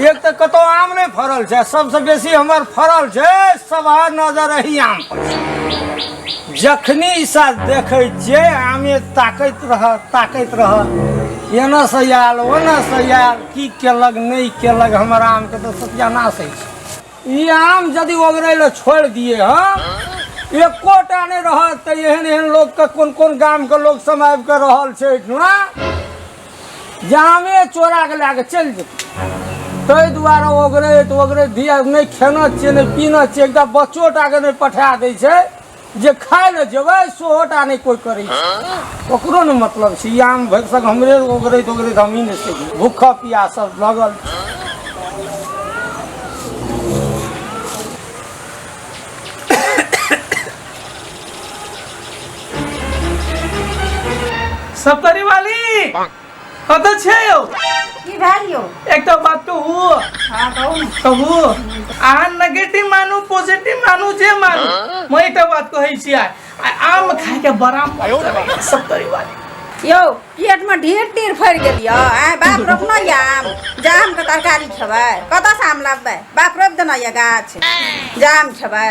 एक तऽ कतौ आम नहि फड़ल छै सबसँ बेसी हमर फड़ल छै सभा नजर एही आम पर छै। जखनी ई साल देखै छियै आमे ताकैत रह ताकैत रह एना से आयल ओना से आयल की केलक नहि केलक हमर आमके तऽ सत्यानाश होइ छै ई आम यदि ओगरै लए छोड़ि दिए हम एकोटा नहि रहत तऽ एहन एहन लोकके कोन कोन गामके लोक सब आबि कऽ रहल छै एहिठुना जामे चोरा के लए के चलि जेतै ताहि दुआरे ओगरैत ओगरैत धिया नहि खेना छियै नहि पीना छियै एकटा बच्चो टा के नहि पठा दै छै जे खाय लए जेबै सेहो टा नहि कोइ करै छै ओकरो ने मतलब छै आम भरि सक हमरे ओगरैत ओगरैत हमही ने छै भूखा पिया सब लगल सब करे वाली कत छै यौ की भेल यौ एकटा बात कहू हाँ कहू ने कहू अहाँ नेगेटिव मानू पॉजिटिव मानू जे मानू मैं एकटा बात कहै छी आइ आइ आम खाय के बड़ा मन करैया सब करे वाली यौ पेट में ढेर टीर फड़ गेल यौ आय बाप रोपना या आम जाम के तरकारी खेबै कतऽ से आम लाबबै बाप रोपि देना या गाछ जाम खेबै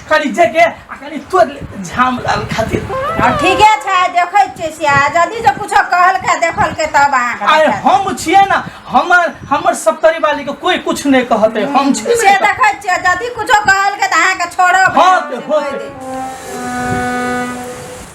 खरीदे के आ कनी तोड़ ले झाम लाल खातिर अब ठीके छै देखै छियै से आ जदि जे कुछो कहलकै देखलकै तब अहाँके आय देखा देब। हम छियै ना हमर हमर सप्तरी वाली के कोई कुछ नहीं कहते हम छियै से ना। देखै छियै जदि कुछो कहलकै तऽ अहाँके छोड़ब हाँ, नहि, होते, होते। होते।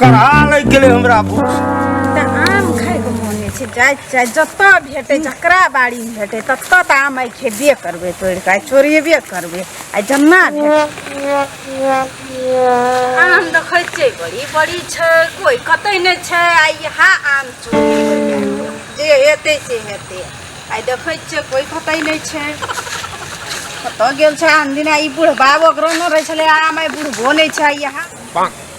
कढ़ा लग गेलै हमरा भूख तऽ आम खाइके मोन होइ छै जाइ जाइ जतऽ भेटै जकरा बाड़ीमे भेटै ततऽ तऽ आम आइ खेबे करबै तोड़ि कऽ आइ चोरेबे करबै आइ जेना भेटै आम देखै छियै बड़ी बड़ी छै कोइ कतै नहि छै आइ इएह आम चोरी होइए। जे हेतै से हेतै आइ देखै छियै कोइ कतै नहि छै कतऽ गेल छै आन दिना ई बुढ़बा ओकरो नहि रहै छलै आम आइ बुढ़बो नहि छै आइ इएह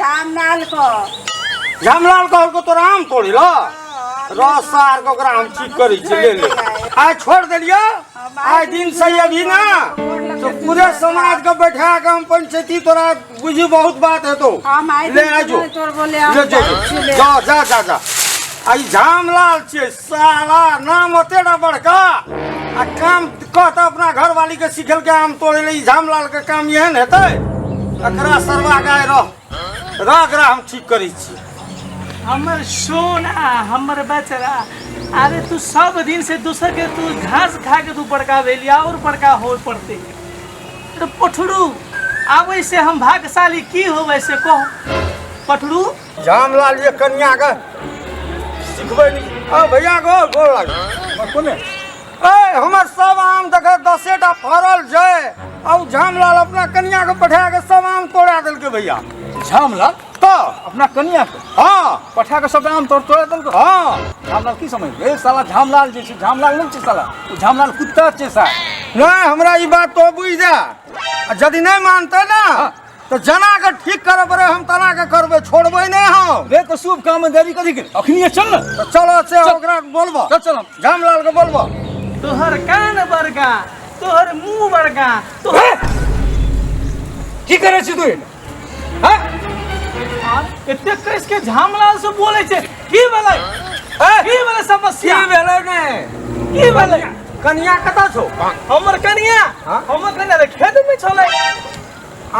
रामलाल को रामलाल को हमको तो राम थोड़ी लो रस सार को ओकरा हम ठीक करी छी ले ले आय छोड़ देलियो आय दिन से अभी ना तो पूरे समाज को बैठा के हम पंचायती तोरा बुझी बहुत बात है तो हम आइ ले दिन आजो तोर बोले हम ले जो जाइत छी ले। जा जा जा जा आई झामलाल छियै साला नाम होते ना बड़का आ काम कहता अपना घर वाली के सिखल के आम तोड़े ले झाम लाल के काम एहन हेतै एकरा सरवा गाय रह रह एकरा हम ठीक करै छी हमर सोना हमर बचरा अरे तू सब दिन से दूसर के तू घास खा के तू बड़का भेली और बड़का हो पड़ते तो पठरू आबै से हम भाग्यशाली की होबै से कह पठरू रामलाल ये कन्या का सिखबै नहीं आ भैया गो गोर लाग कोने ए हमर सब आम देख दसे टा फरल छै आ उ झामलाल अपना कन्या के पठा के सब आम तोड़ा देलके भैया झामला तो अपना कनिया के हाँ पठा के सब आम तोड़ तोड़ देलको हाँ झामलाल की समझ ए साला झामलाल जे छै झामलाल नहि छै साला ओ झामलाल कुत्ता छै साला नहीं हमरा ई बात तो बुझ जा आ यदि नहीं मानते ना तऽ जना के ठीक करऽ पड़े हम तना के करबे छोड़बे नहीं हम रे तो शुभ काम में देरी करी के अखनी चल ना तो चलो से ओकरा बोलबो चल चल जामलाल के बोलबो तोहर कान बड़का तोहर मुंह बड़का तोहर की करे छी तू हां एते कैस के झामलाल से बोले छे की भेलै की भेलै समस्या की भेलै ने की भेलै कनिया कता छो हमर कनिया हमर कनिया खेत में छलै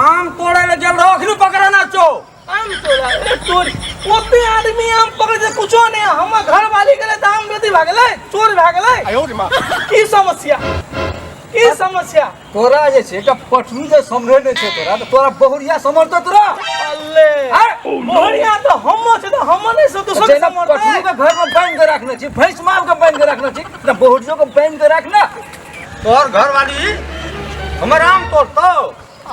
आम तोड़े ले गेल रहो अखनी पकड़े ना चो आम तोड़ा ए चोर ओते आदमी आम पकड़े से कुछो नहीं हम घर वाली के लिए तो आम बेटी भागले चोर भागले आयो रे मां की समस्या की समस्या तोरा जे छै एकटा पटरू जे समरे नै छै तोरा तऽ तोरा बहुरिया समरतो तोरा अल्ले आय, बढ़िया तो हम छै तो हम नहीं सब तो सब जेना समझते पटरू के घर में बांध के रखने छी भैंस माल के बांध के रखने छी तऽ बहुरियो के बांध के रखना तोहर घरवाली हमर आम तोड़तो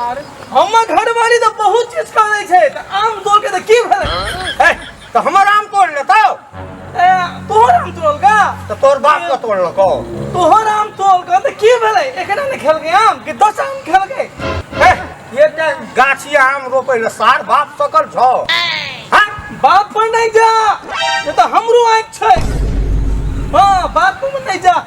अरे हमर घरवाली तो बहुत चीज खा लै छै तऽ आम तोड़ के तऽ की भेलै ए, तऽ हमर आम तोड़ लेतो ए, तोहर आम तोड़ का तऽ तोर बाप के तोड़लको तोहर आम तोड़ का तऽ की भेलै एकरा ने खेलकै आम कि दस आम खेलकै ए, ये टा गाछी आम रोपे ले सार बाप सकल छौ हाँ? बाप पर नहीं जा ये तो हमरो आँख छै हाँ बाप पर नहीं जा